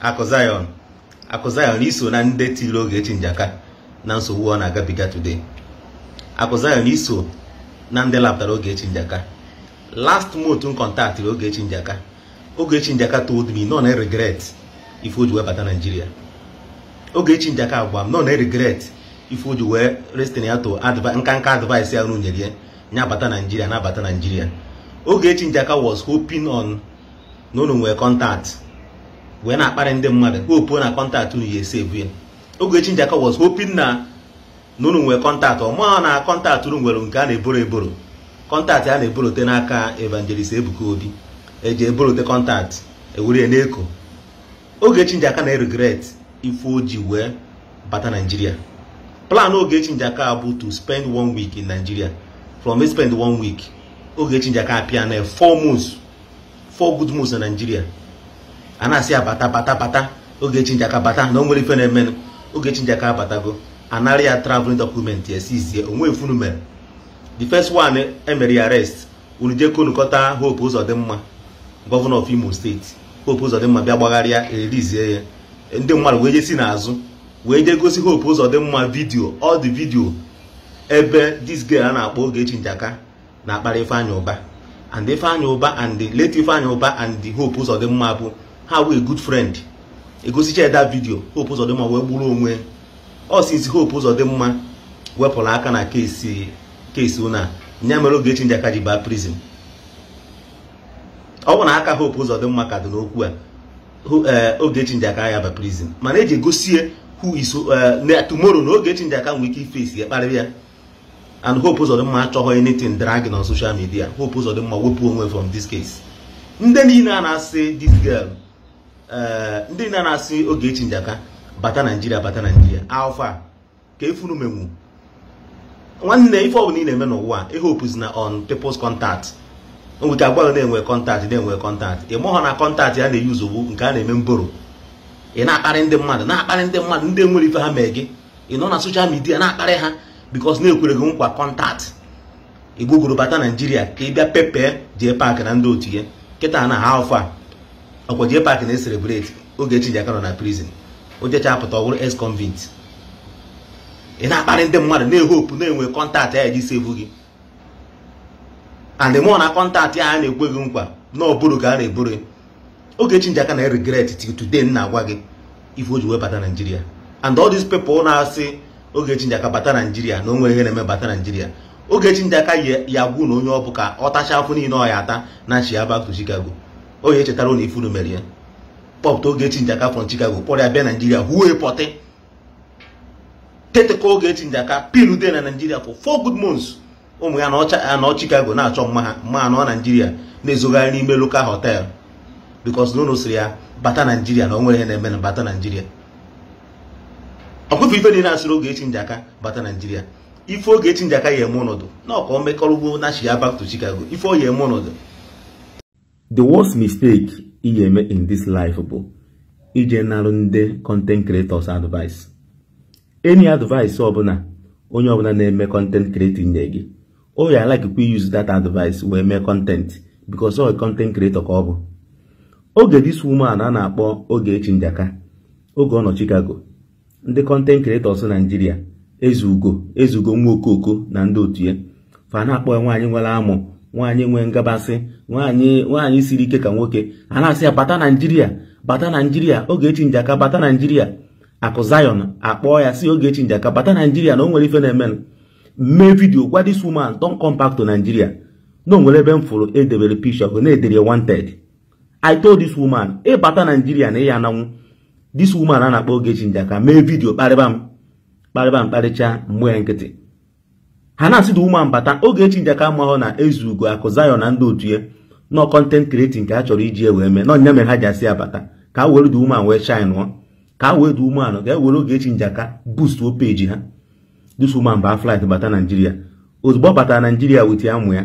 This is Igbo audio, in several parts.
akụ Zion akụ Zion i so na ndị tiri Ogechi Njaka na nsogbu ọ na-agabiga today akụ Zion i so na ndị lapụtara Ogechi Njaka last month m kọntaktịrị Ogechi Njaka Ogechi Njaka told me na ọ na-regret ife o ji wee bata Naijiria Ogechi Njaka agwa m na ọ na-regret ife o ji wee listen ya to nka nka advice a unu nyere ya ya bata Naijiria na-abata Naijiria Ogechi Njaka was hoping on na unu nwee contact wee na-akparị ndị mmadụ hope na contact unu ya-esevu ya Ogechi Njaka was hoping na na unu nwee contact ọ maghị na contact unu nwere nke a na-eboro eboro contact a na-eborote n'aka evangelist Ebuka Obi e ji eborote contact e were ya n'eko Ogechi Njaka na-regret ife o ji wee bata Naijiria plan Ogechi Njaka bụ to spend one week in Nigeria from spend one week Ogechi Njaka apịa na four months four good months na Nigeria a na-asị ya bata bata bata Ogechi Njaka bata na o nwere ife na-emenụ Ogechi Njaka abatago a nara ya traveling document ya sizie o nwee ife unu mere the first one e mere ya arrest unu jee konukọta Hope Uzodimma governor of Imo State Hope Uzodimma bịa gbaghara ya e release ya ndị mmadụ wee jee si n'azụ wee jee gosi Hope Uzodimma video all the video ebe this girl a na-akpọ Ogechi Njaka na-akparị Ifeanyi Uba and Ifeanyi Uba and late Ifeanyi Uba and Hope Uzodimma bụ ha wụ good friend e gosicha ya that video Hope Uzodimma wee gburu onwe ọ since Hope Uzodimma wepụrụ aka na case case ụna nya mere Ogechi Njaka ji baa prison ọ bụ na aka Hope Uzodimma ka dị n'okwu a eh, Ogechi Njaka ya-aba prison mana eji egosie who is eh, tomorrow na Ogechi Njaka nwere ike iface ya kparịa ya and Hope Uzodimma achọghị anything dragging on social media Hope Uzodimma wepụ onwe from this case ndị niile a na-asị this girl eh, ndị niile a na-asị Ogechi Njaka bata Naijiria bata Naijiria how far kee ife unu menwu nwanne ife ọbụla ị na-eme n'ụwa ehopena on people's contact nwere a gwa na e nwe contact na e nwe contact ị maghọ na contact a na-eyuzu ọ wụ nke a na-eme mboro ị na-akparị ndị mmadụ na-akparị ndị mmadụ ndị nwere ife ha mee gị ị nọ na social media na-akparị ha because a na-ekwere gị nkwa contact i gbogoro bata Naijiria ka ị bịa pepe jee paakị na ndị otu ya kịta na how far ọkwa jee paakị na-ecelebrate Ogechi Njaka nọ na prison o jechaa pụta ọ wụrụ ex-convict ị na-akparị ndị mmadụ na-ehopu na e nwe contact a ya-eji sevu gị and ị maghọ na contact a na-ekwe gị nkwa na ọ boro ka a na-eboro Ogechi Njaka na regret till today m na-agwa gị ife o ji wee bata naijiria and all these people na-asị Ogechi Njaka bata naijiria na o nwere ihe na-eme bata naijiria Ogechi Njaka ya agwa unu onye ọ bụ ka ọ tacha afụfụ niile ọ ya ata nachia back to chicago ọ ya echetara unu ife unu mere ya kpọpụta Ogechi Njaka from chicago kpọrọ ya bịa naijiria huo pọtị tete ka Ogechi Njaka pinude na naijiria for four good months ụmụ ya nọ Chicago na-achọ mma ha mma ha nọ naijiria na-ezogharị n'ime local hotel because na unu sịrị ya bata naijiria na o nwere ihe na-emenụ bata naijiria ọkpụfe ife niile asịrị Ogechi Njaka bata naijiria ife Ogechi Njaka ya eme unu dụnụ ka o mekọrọgo nachia back to Chicago ife ọ ya eme unu dụ the worst mistake ị ya-eme in this life bụ ije narụ ndị content creators advice any advice ọbụla onye ọbụla na-eme content creating nye gị ọ ya a-likekwa use that advice wee mee content because ọ content creator ka ọ bụ oge this woman a na-akpọ Ogechi Njaka oge ọ nọ Chicago ndị content creators Naijiria ezugo ezugo nwa okoko na ndị otu ya fa na-akpọ ya nwaanyị nwere amụ nwaanyị nwee ngabasị nwaanyị nwaanyị siri ike ka nwoke a na-asị ya bata Naijiria bata Naijiria Ogechi Njaka bata Naijiria akụ Zion akpọọ ya sị Ogechi Njaka bata Naijiria na o nwere ife na-emenụ m mee vidio gwa this woman don't come back to Nigeria na o nwere ebe m fụrụ edebere picture na-edere wanted I told this woman ị bata Naijiria na ị ya ananwụ this woman a na-akpọ Ogechi Njaka mee vidio kparịba m kparịba m kparịcha m gba ya nkịtị ha na-asị the woman bata Ogechi Njaka amahụ na ezugo akụ Zion na ndị otu ya na ọ content creating ka ha chọrọ iji wee mee na ọ nya mere ha ji asị ya bata ka ha were the woman wee shine-ụọ ka ha wee the woman ka ha were Ogechi Njaka boostuo page ha this woman baa flight bata Naijiria ozugbo ọ batara Naijiria wit ya mụ ya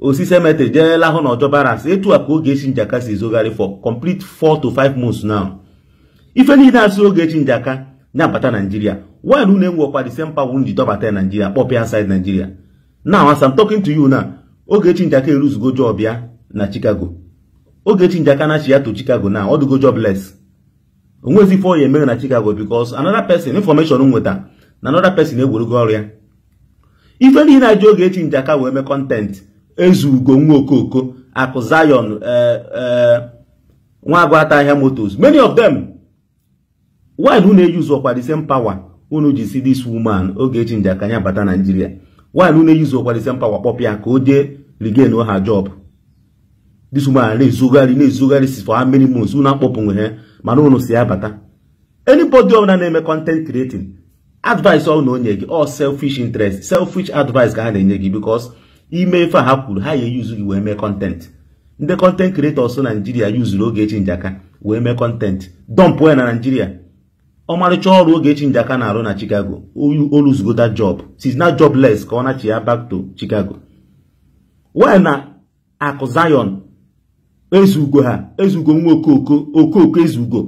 o si cemetery jee lahụ na ọjọ barracks etu a ka Ogechi Njaka si ezogharị for complete 4 to 5 months now ife niile asị Ogechi Njaka nya bata Nigeria why na unu enweọkwa the same power unu ji dọbata Nigeria kpọpụ ya inside Nigeria now as I'm talking to you now Ogechi Njaka e-losego job ya na Chicago Ogechi Njaka nachia to Chicago now ọ dụgo jobless o nwezi ife ọ ya emere na Chicago because another person information m nweta na another person ewerugo ọrụ ya ife niile ha ji Ogechi Njaka wee mee content ezugo nwa okoko akụ Zion eh, eh, nwa agwata ahịa motors many of them why na unu eyuzuọkwa the same power unu ji sị this woman Ogechi Njaka ya bata Naijiria why na unu eyuzuọkwa the same power kpọpụ ya ka o jee regain her job this woman na-ezogharị na-ezogharịzi for how many months unu akpọpụwe ya mana unu si ya bata anybody ọbụla na-eme content creating advice ọ na-enye gị ọ selfish interest selfish advice ka ha na-enye gị because i mee ife a ha kwuru ha ya-eyuzu gị wee mee content ndị content creators Nigeria yuzuru Ogechi Njaka wee mee content dọmpụ ya na Nigeria ọmarịcha ọrụ Ogechi Njaka na-arụ na Chicago o luzugo that job she's now jobless ka ọ nachiya back to Chicago why na akụ Zion ezugo ha ezugo nwa okooko okooko ezugo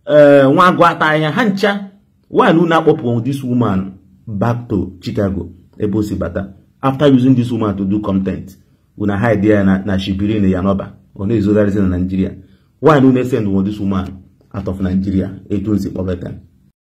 ee eh, nwa agụ ata ahịhịa ha ncha why na unu akpọpụ this woman back to Chicago ebe o si bata after using this woman to do content unu hide ya na na Shibiri Iyanoba ọ na-ezogharịzi na Nigeria why na unu esend this woman out of Nigeria etu unu si kpọbata